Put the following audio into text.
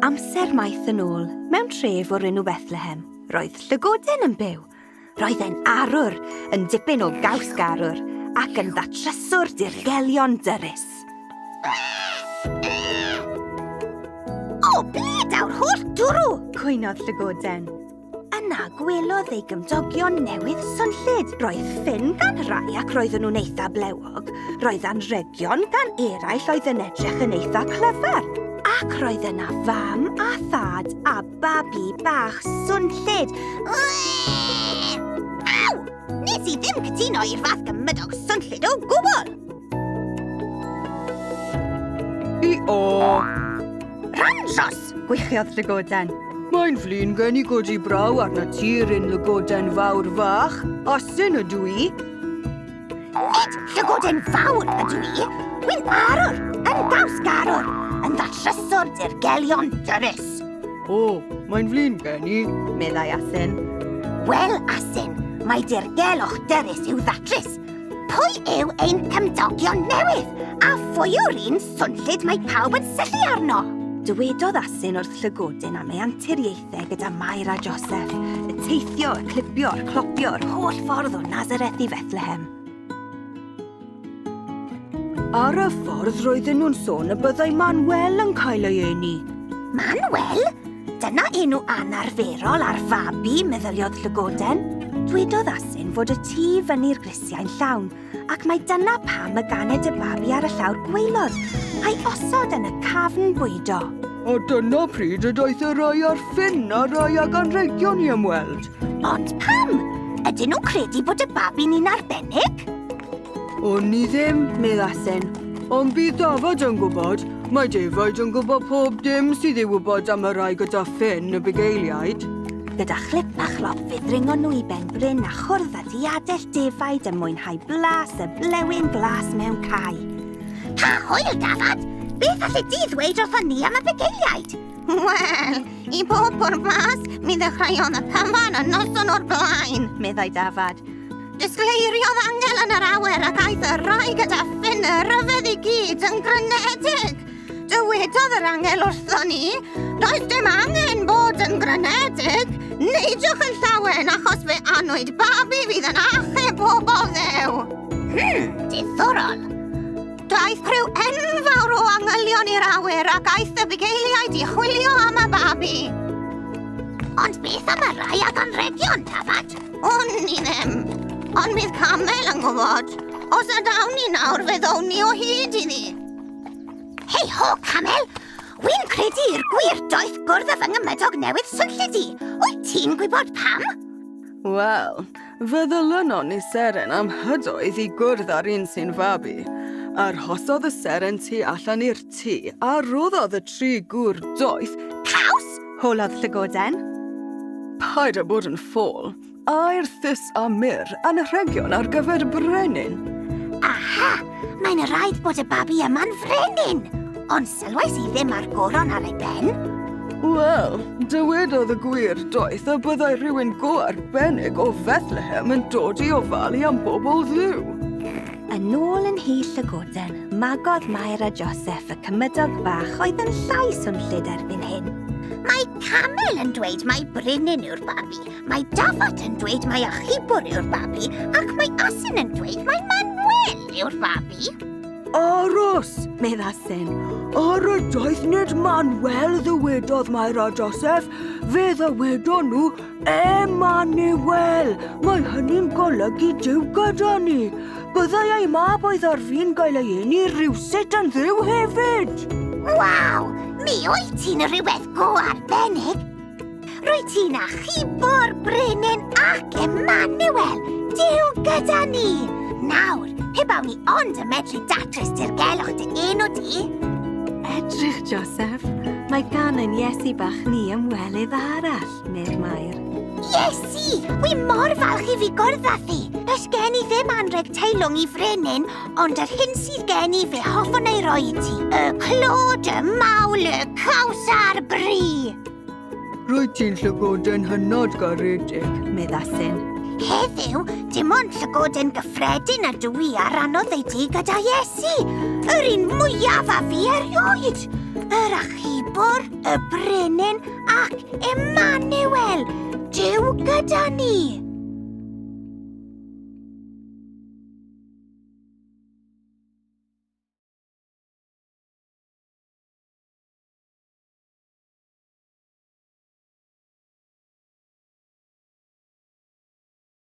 Amser maith yn ôl, mewn tref o'r enw Bethlehem, roedd llygoden yn byw. Roedd e'n arwr, yn dipyn o gaws garwr, ac yn ddatryswr dirgelion dyrus. O, ble daw'r holl dwrw? Cwynodd llygoden. Yna gwelodd ei gymdogion newydd swnllyd. Roedd ffyn gan rai ac roedden nhw'n eitha blewog. Roedd anrhegion gan eraill oedd yn edrych yn eitha clyfar. Ac roedd yna fam a thad a babi bach swnllyd. Aw! Nes i ddim cytuno i'r fath gymydog swnllyd o gwbl! O! Ranjos! Gwychiodd Llygoden. Mae'n flin gen i godi braw arna ti, Ryn Llygoden Fawr Fach. Asyn ydw i. Nid Llygoden Fawr ydw i. Wy'n arwr, yn gaws garwr, yn ddatryswr dirgelion dyrus. O, mae'n flin gen i, meddai Asyn. Wel, Asyn, mae dirgelwch dyrus i'w ddatrys. Pwy yw ein cymdogion newydd, a phwy yw'r un swnllyd mae pawb yn syllu arno? Dywedodd Asyn wrth Llygodyn am ei anturiaethau gyda Mair a Joseph, y teithio, y clipio, y clopio, yr holl ffordd o Nazareth i Fethlehem. Ar y ffordd roedden nhw'n sôn y byddai Manuel yn cael ei eni. Manuel? Dyna enw anarferol ar fabi, meddyliodd Llygoden. Dwedodd Asyn fod y tu fyny'r grisiau'n llawn, ac mae dyna pam y ganed y babi ar y llawr gweilod, a'i osod yn y cafn bwydo. A dyna pryd y daeth y rai ar ffin a rai ag anrhegion i ymweld. Ond pam? Ydyn nhw'n credu bod y babi'n un arbennig? O'n i ddim, medda Sen. Ond bydd Dafod yn gwybod. Mae defaid yn gwybod pob dim sydd ei wybod am y rai gyda ffen y bugeiliaid. Gyda chlip a chlop fe ddringon nhw i ben Bryn a chwrdd â diadell defaid yn mwynhau blas y blewyn glas mewn cae. Pa hwyl, Dafod! Beth allu di ddweud wrth ni am y bugeiliaid? Wel, i bob pwrpas, mi ddechreuodd y cyfan y noson o'r blaen, meddai Dafod. Disgleiriodd angel yn yr awyr ac aeth y rhai gyda ffyn y rhyfedd i gyd yn grynedig. Dywedodd yr angel wrthon ni, does dim angen bod yn grynedig, neidiwch yn llawen achos fe anwyd babi fydd yn achub pobl ddew. Hmm, diddorol. Daeth criw enfawr o angylion i'r awyr ac aeth y bugeiliaid i chwilio am y babi. Ond beth am y rhai ag anrhegion, Tafad? O'n i ddim. Ond bydd Camel yn gwybod. Os nad awn ni nawr, fe ddown ni o hyd i ni. Hei ho, Camel! Wy'n credu i'r gwir doeth gwrdd â fy ngymydog newydd swnllyd i. Wyt ti'n gwybod pam? Wel, fe ddylynon ni seren am hydoedd i gwrdd â'r un sy'n fabi. Arhosodd y seren tu allan i'r tŷ a roddodd y tri gŵr doeth... Caws? Holodd llygoden. Paid â bod yn ffôl. Air thus a myr, anrhegion ar gyfer brenin. Aha! Mae'n rhaid bod y babi yma'n frenin! Ond sylwais i ddim ar goron ar ei ben. Wel, dywedodd y gwir doeth y byddai rhywun go arbennig o Fethlehem yn dod i ofalu am bobl ddiw. Yn ôl yn hyll y goden, magodd Mair a Joseph y cymydog bach oedd yn llai swnllyd erbyn hyn. Mae camel yn dweud mae brinyn yw'r babi, mae dafod yn dweud mae achubwr yw'r babi, ac mae asyn yn dweud mae Manuel yw'r babi. Aros, medd asyn. Ar y daeth nid Manuel ddywedodd Mair a Joseph, fe ddywedon nhw Emmanuel! Mae hynny'n golygu Duw gyda ni. Byddai ei mab oedd ar fin gael ei eni rhywsut yn dduw hefyd. Waw! Mi wyt ti'n rhywbeth go arbennig. Rwy ti'n achubo'r brenin ac Emmanuel, Duw gyda ni. Nawr, pe bawn ni ond yn medru datrys dirgelwch dy enw di. Edrych, Joseph. Mae gan ein Iesu bach ni ymwelydd arall. neu'r Maer. Iesu! Wi mor falch i fi gwrdd â thi! Does gen i ddim anreg teilwng i frenin, ond yr hyn sydd gen i fe hoffwn ei roi i ti. Y clod, y mawl, y caws a'r bri! Rwyt ti'n llygoden hynod garedig, meddasyn. Heddiw, dim ond llygoden gyffredin ydw i a rannodd ei di gyda Iesu, yr un mwyaf a fi erioed! Yr achubwr, y brenin, Ac Emmanuel, Dyw gyda ni!